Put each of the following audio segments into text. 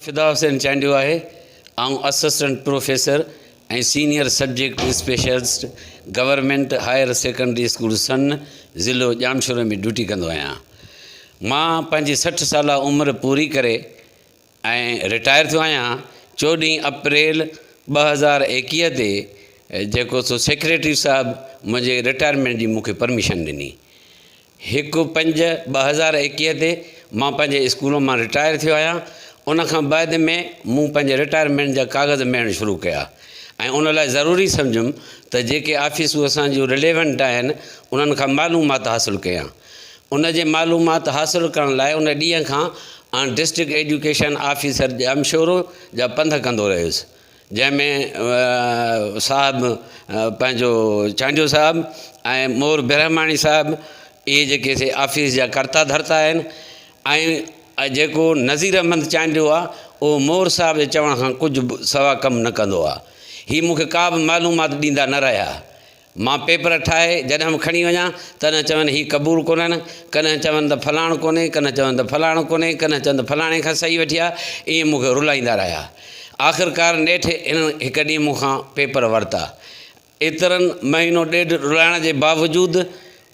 فدا حسين چانڊيو آهي. آئون assistant professor ۽ senior subject specialist government higher secondary school Sann ضلعو ڄامشوري ۾ ڊيوٽي ڪندو آهيان. مان پنهنجي سٺ سالا عمر پوري ڪري ۽ رٽائر ٿيو آهيان. چوڏهين اپريل ٻه هزار ايڪيهه تي جيڪو سو سيڪريٽري صاحب منهنجي رٽائرمينٽ جي مون کي پرميشن ڏني. هڪ پنج ٻه هزار ايڪيهه تي مان پنهنجي اسڪول مان رٽائر ٿيو آهيان ان کان بعد ۾ مون پنهنجي رٽائرمينٽ جا ڪاغذ ميڙڻ شروع ڪيا ۽ ان لاء ضروري سمجهيم ته جيڪي آفيسون اسان جون رليونٽ آهن انهن کان معلومات حاصل ڪيان ان جي معلومات حاصل ڪرڻ لاء ان ڏينهن کان on district education officer Jamshoro جا پنڌ ڪندو رهيس جنهن ۾ صاحب پنهنجو چانڊيو صاحب ۽ مور برهماڻي صاحب اهي جيڪي سي آفيس جا ڪرتا ڌرتا آهن ۽ جيڪو نظير احمد چانڊيو آ اهو مور صاحب جي چوڻ کان ڪجهه به سوا ڪم نه ڪندو آ هي مونکي ڪا به معلومات ڏيندا نه رهيا مان پيپر ٺاهي جڏهن به کڻي وڃان، ڪڏهن چون هي قبول ڪونهن، ڪڏهن چون ته فلاڻ ڪونهي، ڪڏهن چون ته فلاڻ ڪونهي، ڪڏهن چون ته فلاڻي کان صحيح وٺي آ، ائين مون کي رلائيندا رهيا. آخرڪار نيٺ هنن هڪ ڏينهن مون کان پيپر ورتا. ايترن مهينو ڏيڍ رلائڻ جي باوجود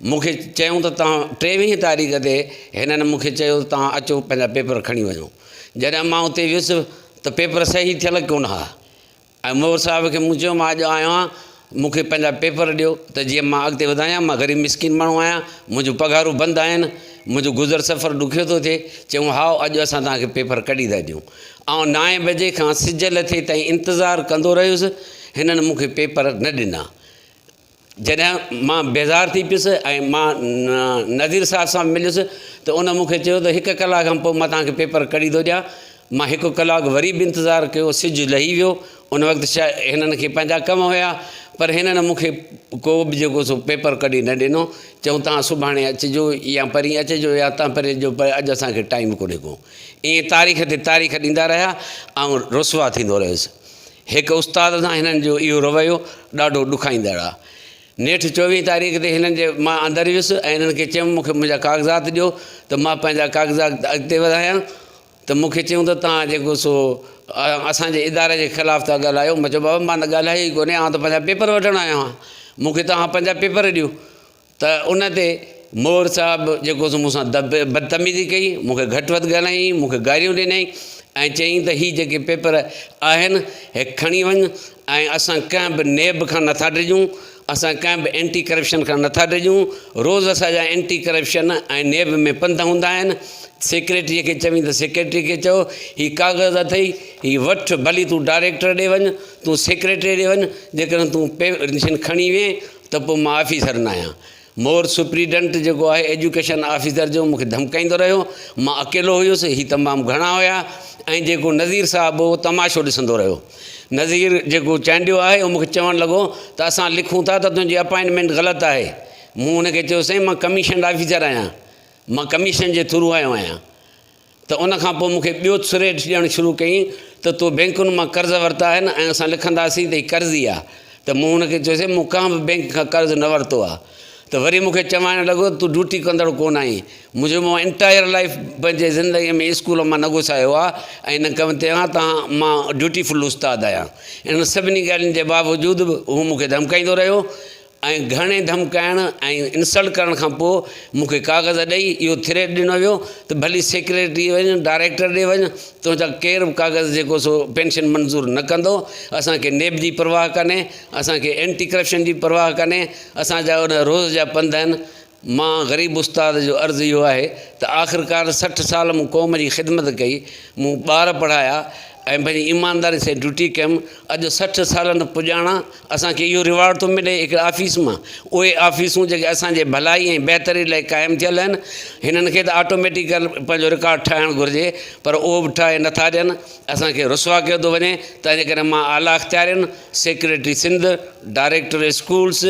مون کي چيائون ته توهان ٽيويهين تاريخ تي هنن مون کي چيو ته توهان اچو پنهنجا پيپر کڻي وڃو. جڏهن مان اتي ويس ته پيپر صحيح ٿيل ڪونه ها. ۽ منور صاحب کي مون چيو مان اڄ آيو آهيان مون کي پنهنجا پيپر ڏيو ته جيئن مان اڳتي وڌايان مان غريب مسڪين ماڻهو آهيان منهنجو پگهارون بند آهن منهنجو گذر سفر ڏکيو ٿو ٿئي چيو هائو اڄ اسان توهان کي پيپر ڪڍي ٿا ڏيون آئون نائين بجي کان سج لٿي تائين انتظار ڪندو رهيس هنن مون کي پيپر نه ڏنا جڏهن مان بيزار ٿي پيس ۽ مان نذير صاحب سان به مليس ته ان مون کي چيو ته هڪ ڪلاڪ کان پوء مان توهان کي پيپر ڪڍي ٿو ڏيان. مان هڪ ڪلاڪ وري به انتظار ڪيو، سج لهي ويو. ان وقت شايد هنن کي پنهنجا ڪم هيا، پر هنن مون کي ڪو به جيڪو سو پيپر ڪڍي نه ڏنو. چيائون توهان سڀاڻي اچجو يا پرين اچجو يا توهان پرين اچجو پر اڄ اسان کي ٽائيم ڪونهي ڪو. ائين تاريخ تي تاريخ ڏيندا رهيا. آئون رسوا ٿيندو رهيس. هڪ استاد سان هنن جو اهو رويو ڏاڍو ڏکائيندڙ آ. نيٺ چوويهين تاريخ تي هنن جي مان اندر ويس ۽ هنن کي چيم مون کي منهنجا ڪاغذات ڏيو ته مان پنهنجا ڪاغذات اڳتي وڌايان ته مون کي چيون ته توهان جيڪو سو اسان جي اداري جي خلاف ٿا ڳالهايو مان چيو بابا مان ته ڳالهايو ئي ڪونهي آئون ته پنهنجا پيپر وٺڻ آيو آهيان مون کي توهان پنهنجا پيپر ڏيو ته ان تي مور صاحب جيڪو سو مون سان بدتميزي ڪئي مون کي گهٽ وڌ ڳالهايائين مون کي گاريون ڏنائين ۽ چيائين ته هي جيڪي پيپر آهن هي کڻي وڃ ۽ اسان ڪنهن به نيب کان نٿا ڊڄون اسان ڪنهن به اينٽي ڪرپشن کان نٿا ڊڄون روز اسان جا اينٽي ڪرپشن ۽ نيب ۾ پنڌ هوندا آهن سيڪريٽريء کي چوين ته سيڪريٽريء کي چئو هي ڪاغذ اٿئي هي وٺ ڀلي تون ڊائريڪٽر ڏي وڃ تون سيڪريٽريء ڏي وڃ جيڪڏهن تون پير کڻي وئين ته پوء مان آفيسر ناهيان. مور سپريڊنٽ جيڪو آهي ايجوڪيشن آفيسر جو مون کي ڌمڪائيندو رهيو. مان اڪيلو هيس، هي تمام گهڻا هيا ۽ جيڪو نذير صاحب هو اهو تماشو ڏسندو رهيو. نذير جيڪو چانڊيو آهي اهو مون کي چوڻ لڳو ته اسان لکون ٿا ته تنهنجي اپائنٽمينٽ غلط آهي. مون هن کي چيو سائين مان ڪميشنڊ آفيسر آهيان. مان ڪميشن جي ٿرو آيو آهيان. ته ان کان پوء مون کي ٻيو ٿريٽ ڏيڻ شروع ڪيائين ته تو بينڪن مان قرض ورتا آهن ۽ اسان لکنداسين ته هي قرضي آهي ته مون هن کي چيوسين مون ڪنهن به بينڪ کان قرض نه ورتو آهي ته وري مون کي چوائڻ لڳو ته تون ڊيوٽي ڪندڙ ڪونه آهين منهنجو مون انٽائر لائيف پنهنجي زندگي ۾ اسڪول مان نه گسايو آهي ۽ نه ڪم تي آهيان تان مان ڊيوٽي فل استاد آهيان انهن سڀني ڳالهين جي باوجود به هو مون کي ڌمڪائيندو رهيو ۽ گهڻي ڌمڪائڻ ۽ انسلٽ ڪرڻ کان پوء مون کي ڪاغذ ڏئي اهو ٿريٽ ڏنو ويو ته ڀلي سيڪريٽري ڏي وڃ ڊائريڪٽر ڏي وڃ تو جا ڪير به ڪاغذ جيڪو سو پينشن منظور نه ڪندو اسان کي نيب جي پرواهه ڪانهي اسان کي اينٽي ڪرپشن جي پرواهه ڪانهي اسان جا ان روز جا پنڌ آهن مان غريب استاد جو عرض اهو آهي ته آخرڪار سٺ سال مون قوم جي خدمت ڪئي، مون ٻار پڙهايا ۽ پنهنجي ايمانداري سان ڊيوٽي ڪيم، اڄ سٺ سالن پڄاڻان اسان کي اهو ريوارڊ ٿو ملي هڪڙي آفيس مان، اهي آفيسون جيڪي اسان جي ڀلائي ۽ بهتري لاء قائم ٿيل آهن، هنن کي ته آٽوميٽيڪل پنهنجو رڪارڊ ٺاهڻ گهرجي پر اهو به ٺاهي نٿا ڏين، اسان کي رسوا ڪيو ٿو وڃي، تنهنجي ڪري مان اعليٰ اختيارين، secretary Sindh, director schools,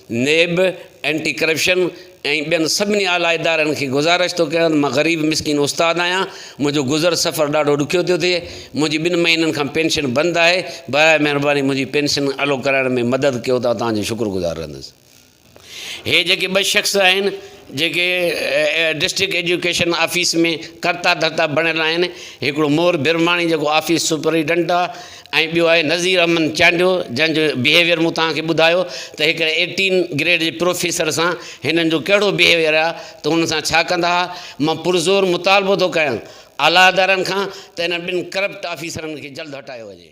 NAB, anti corruption ۽ ٻين سڀني اعليٰ ادارن کي گذارش ٿو ڪريان ته مان غريب مسڪين استاد آهيان، منهنجو گذر سفر ڏاڍو ڏکيو ٿيو ٿئي، منهنجي ٻن مهينن کان پينشن بند آهي، براء مهرباني منهنجي پينشن الو ڪرائڻ ۾ مدد ڪيو ته آء توهان جو شڪر گذار رهندس. هي جيڪي ٻه شخص آهن جيڪي ڊسٽرڪٽ ايجوڪيشن آفيس ۾ ڪرتا ڌرتا بڻيل آهن هڪڙو مور برهماڻي جيڪو آفيس سپريڊنٽ آهي ۽ ٻيو آهي نظير احمد چانڊيو جنهن جو بهيويئر مون توهان کي ٻڌايو ته هڪڙي ايٽين گريڊ جي پروفيسر سان هنن جو ڪهڙو بهيويئر آهي ته هنن سان ڇا ڪندا ها مان پرزور مطالبو ٿو ڪيان اعليٰ ادارن کان ته هنن ٻن ڪرپٽ آفيسرن کي جلد هٽايو وڃي.